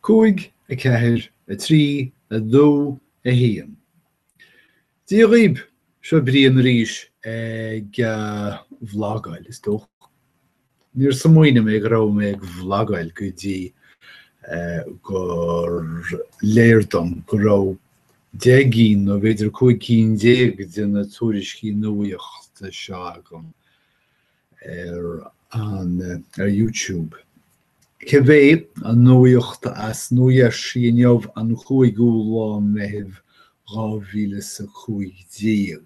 cúig, a ceathair, a trí, a dó, a haon. Dia dhaoib, seo Brian arís ag vlagáil, is dócha. Níor smaoinigh mé go raibh mé ag vlagáil go dtí gur léir dom go raibh deich gcinn nó b'fhéidir cúig cinn déag de na tuairiscí nuaíochta seo agam ar an YouTube. Cibé an nuaíocht as Nua-Gheirsí inniu an 5ú lá Meitheamh 2015.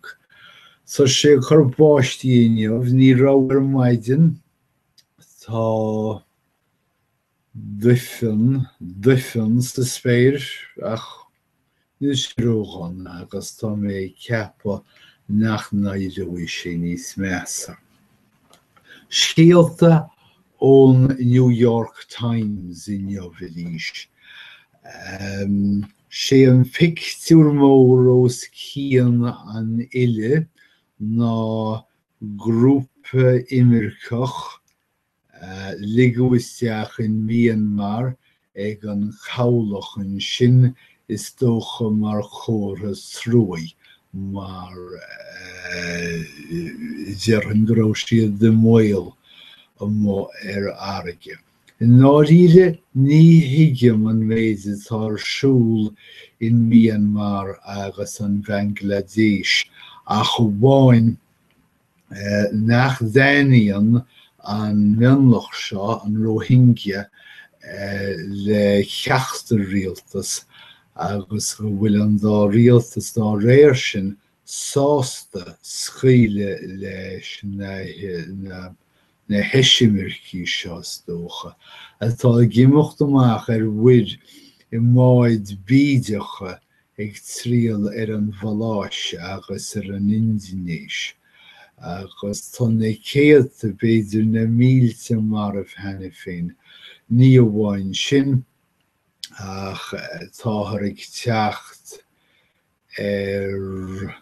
Tá sé ag cur báistí inniu, ní raibh ar maidin. Tá duifean, duifean sa spéir ach níl sé ródhona agus tá mé ag ceapadh nach n-éireoidh sé níos measa. Scéalta ón New York Times inniu arís. 'Sé an pictiúr mór os cionn an fhillidh ná grúpa imirceach a ligeadh isteach in Myanmar ag an cabhlach ansin, is dócha mar chomhartha truaí, mar déarfainn go raibh siad i mbaol amuigh ar fharraige. I ndáiríre ní thuigim an méid atá ar siúl in Myanmar agus an Bhanglaidéis ach amháin nach dtaitníonn an mionlach seo, an Rohingya, le ceachtar rialtas agus go bhfuil an dá rialtas dá réir sin sásta scaoileadh leis na heisimircigh seo, is dócha, atá ag imeacht amach ar mhuir i mbáid bídeacha ag triall ar an Mhaláis agus ar an Indinéis, agus tá na céadta, b'fhéidir na mílte marbh cheana féin. Ní amháin sin, ach táthar ag teacht ar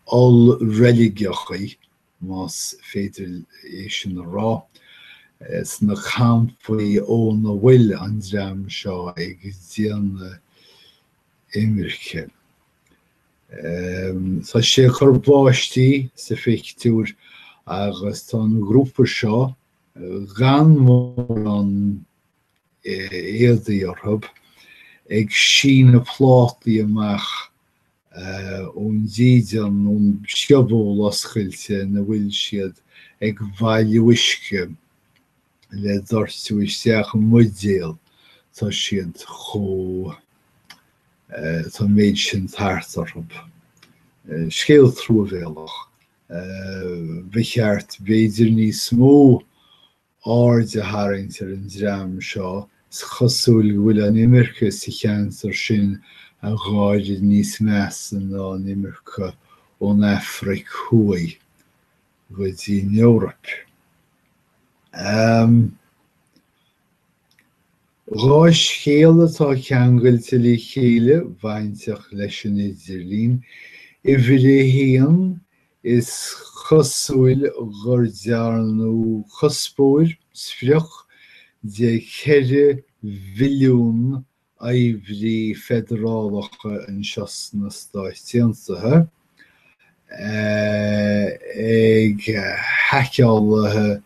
ollreiligeachaí, más féidir é sin a rá, sna campaí óna bhfuil an dream seo ag déanamh imirce. Tá sé ag cur báistí sa phictiúr agus tá an grúpa seo gan mórán éadaí orthub, ag síneadh plátaí amach ón dídean, ón scioból oscailte ina bhfuil siad, ag bailiú uisce le doirteadh isteach i mbuidéal, tá siad chomh. tá an méid sin tart orthub. Scéal truamhéalach. Ba cheart b'fhéidir níos mó aird a tharraingt ar an dream seo, is cosúil go bhfuil an imirce sa cheantar sin i bhfad níos measa ná an imirce ón Afraic Thuaidh go dtí an Eoraip. Dhá scéal atá ceangailte le chéile bainteach leis an idirlíon, uimhir a haon, is cosúil gur dearnadh cuspóir, sprioc, de cheithre mhilliún oibrí feidearálacha anseo sna Stáit Aontaithe, ag haiceálaithe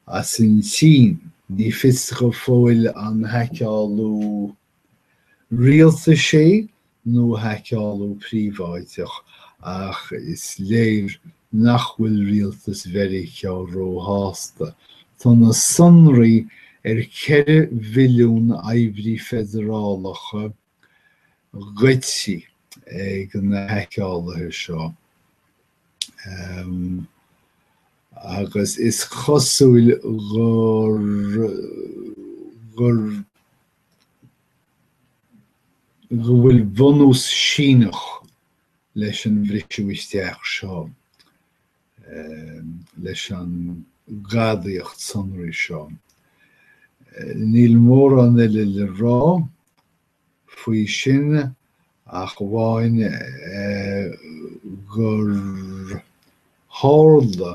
As an tSín, ní fios go fóill an haiceálú rialtais é nó haiceálú príobháideach, ach is léir nach bhfuil rialtas Mheiriceá róshásta. Tá na sonraí ar cheithre mhilliún oibrí feidearálacha goidte ag na haiceálaithe seo agus is cosúil gur go bhfuil bunús Síneach leis an bhriseadh isteach seo. leis an gadaíocht sonraí seo. Níl mórán eile le rá faoi sin ach amháin eh, gur tharla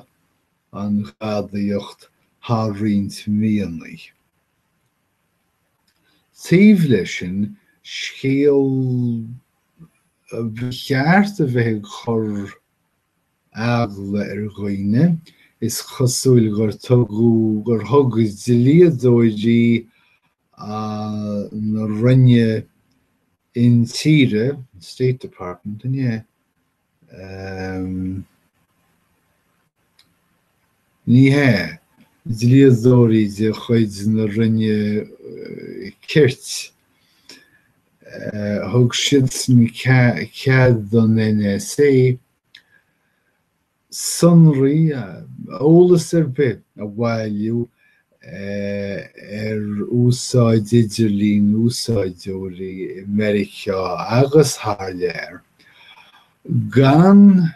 an gadaíocht thar roinnt míonnaí. Taobh leis sin scéal ba cheart a bheith ag cur eagla ar dhaoine, is cosúil gur tugadh, gur thug dlíodóirí na Roinne Intíre, State Department, ní hea, ní hea, dlíodóirí de chuid na Roinne Cirt, thug siadsan cead don NSA, sonraí, eolas ar bith a bhailiú ar úsáid idirlín úsáideoirí i Meiriceá agus thar lear, gan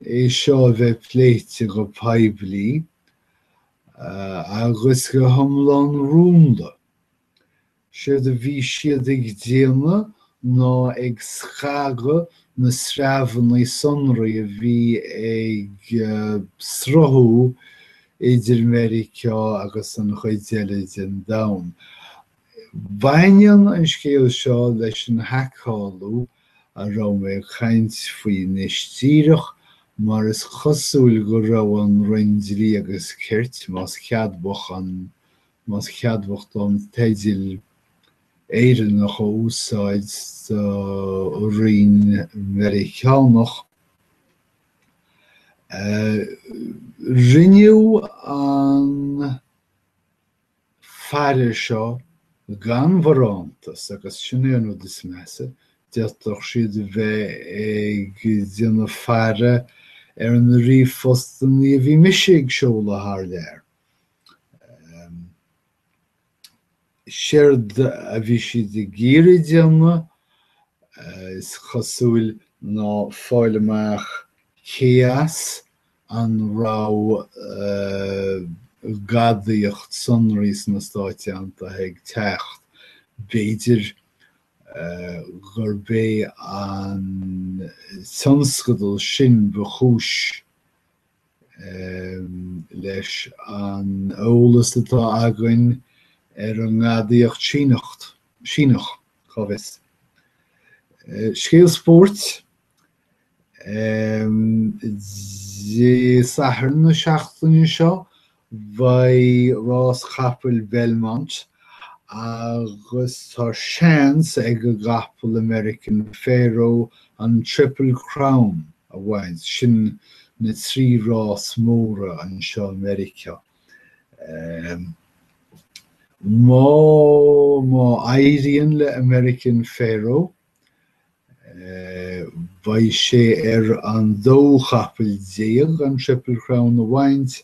é seo a bheith pléite go poiblí agus go hiomlán rúnda. Séard a bhí siad ag déanamh ná ag scagadh na sreabhanna sonraí a bhí ag sruthú idir Meiriceá agus an chuid eile den domhan. Baineann an scéal seo leis an haiceáil a raibh mé ag caint faoi anois díreach mar is cosúil go raibh an Roinn Dlí agus Cirt, más ceadmhach an más ceadmhach dom teideal Éireannach a úsáid do roinn Mheiriceánach, rinneadh an faire seo gan bharántas agus sin é an rud is measa, d'fhéadfadh siad a bheith ag déanamh faire ar na ríomhphostanna a bhí mise ag seoladh thar lear. Séard a bhí siad ag iarraidh déanamh, is cosúil, ná fáil amach cé as an raibh gadaíocht sonraí sna Stáit Aontaithe ag teacht. B'fhéidir gurb é an tionscadal sin ba chúis Leis an eolas atá againn ar an ngadaíocht Síneach, cá bhfios? Scéal spóirt Dé Sathairn na seachtaine seo Beidh rás capall Belmont agus tá seans ag an gcapall American Pharoah an Triple Crown a bhaint, sin na trí rás móra anseo i Meiriceá. Má, má éiríonn le American Pharoah Beidh sé ar an dóú capall déag an Triple Crown a bhaint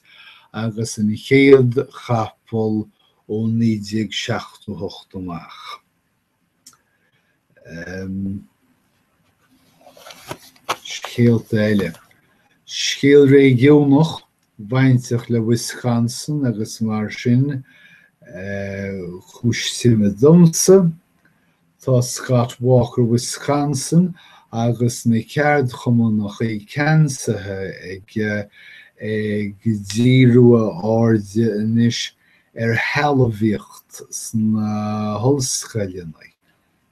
agus an chéad chapall ó 1978 amach. Scéalta eile. Scéal réigiúnach, bainteach le Wisconsin agus mar sin, cúis suime domsa. Tá Scott Walker Wisconsin agus na ceardchumannachaí ceansaithe aige ag díriú a airde anois ar shealbhaíocht sna hollscoileanna.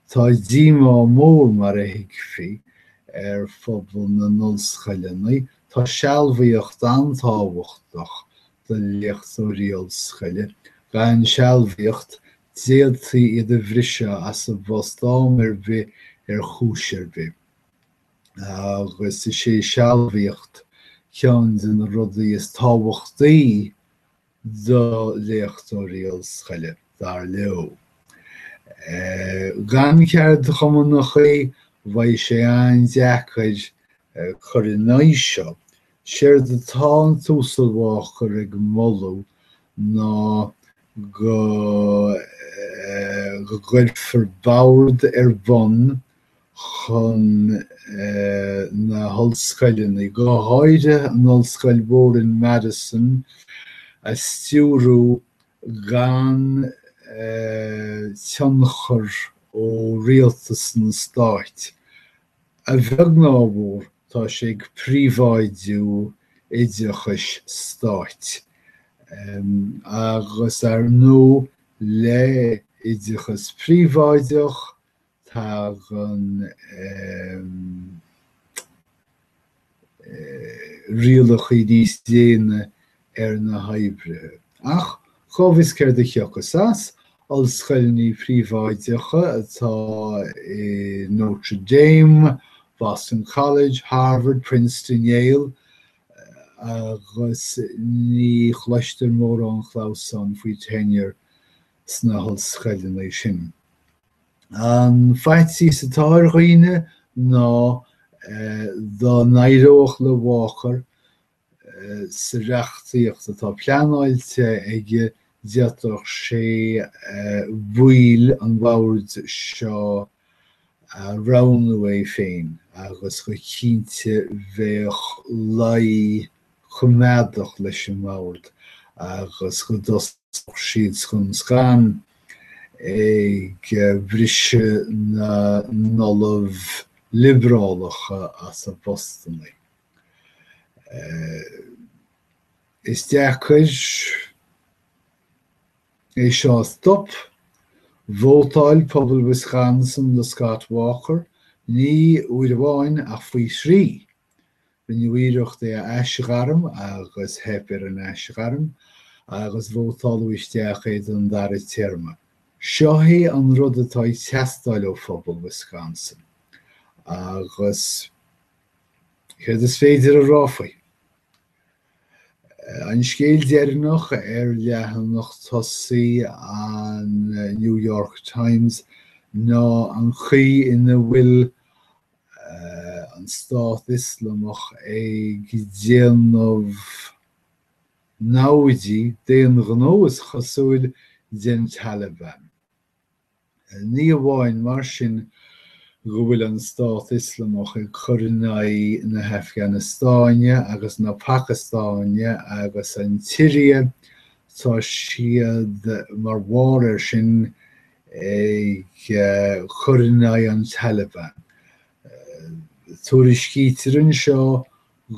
Tá díomá mór, mar a thuigfí, ar phobal na n-ollscoileanna. Tá sealbhaíocht an-tábhachtach do léachtóirí ollscoile. Gan sealbhaíocht, d'fhéadfaí iad a bhriseadh as a bpost am ar bith ar chúis ar bith agus is é sealbhaíocht ceann de na rudaí is tábhachtaí do léachtóirí ollscoile, dar leo. Gan ceardchumannachaí, bheadh sé an-deacair cur in aghaidh seo Séard atá an tUasal Walker ag moladh ná go gcuirfear bord ar bun chun na hollscoileanna, go háirithe an ollscoil mhór in Madison, a stiúrú gan tionchar ó rialtas an Stáit A bheag ná a mhór, tá sé ag príobháidiú oideachais stáit, agus ar ndóigh le hoideachas príobháideach tagann rialacha níos déine ar na hoibrithe. Ach cá bhfios céard a thiocfas as? Ollscoileanna príobháideacha atá i Notre Dame, Boston College, Harvard, Princeton, Yale, agus ní chloistear mórán clamhsáin faoi tenure sna hollscoileanna sin. An faitíos atá ar dhaoine ná dá n-éireodh le Walker sa reachtaíocht atá pleanáilte aige d'fhéadfadh sé baill an bhoird seo a roghnú é féin agus go cinnte bheadh luí coimeádach leis an mBord agus go dtosódh siad scun scan ag bhriseadh na n-ollamh liobrálacha as a bpostanna. Is deacair é seo a stop. Vótáil pobal Wisconsin do Scott Walker, ní uair amháin ach faoi thrí, Rinneadh iarracht é a aisghairm agus theip ar an aisghairm agus vótáladh isteach é don dara téarma. Seo é an rud atá ag teastáil ó phobal Wisconsin agus céard is féidir a rá faoi? An scéal deireanach ar leathanach tosaí an New York Times ná an chaoi ina bhfuil an Stát Ioslamach ag déanamh namhaidí d'aon ghnó is cosúil den Taliban. Ní amháin mar sin go bhfuil an Stát Ioslamach ag cur in aghaidh na hAfganastáine agus na Pacastáine agus an tSiria, tá siad mar bharr air sin ag cur in aghaidh an Taliban. Tuairiscítear anseo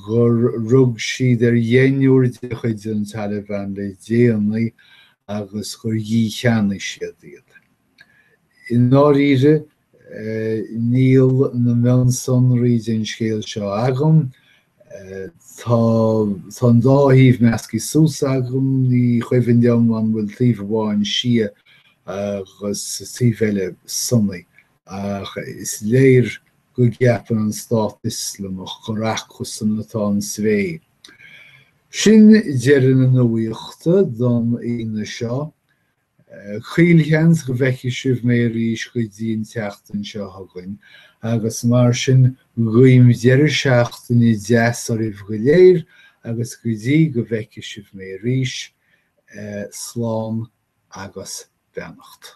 gur rug siad ar dheichniúr de chuid an Taliban le déanaí agus gur dhícheannaigh siad iad. I ndáiríre, níl na mionsonraí den scéal seo agam Tá, tá an dá thaobh measctha suas agam, ní cuimhin liom an bhfuil taobh amháin Sia agus taobh eile Sunnaí, ach is léir go gceapann an Stát Ioslamach gur acusan atá an svae. Sin deireadh na nuaíochta don Aoine seo. Caolsheans go bhfeicfidh sibh mé arís go dtí an tseachtain seo chugainn agus mar sin guím deireadh seachtaine deas oraibh go léir agus go dtí go bhfeicfidh sibh mé arís, slán agus beannacht.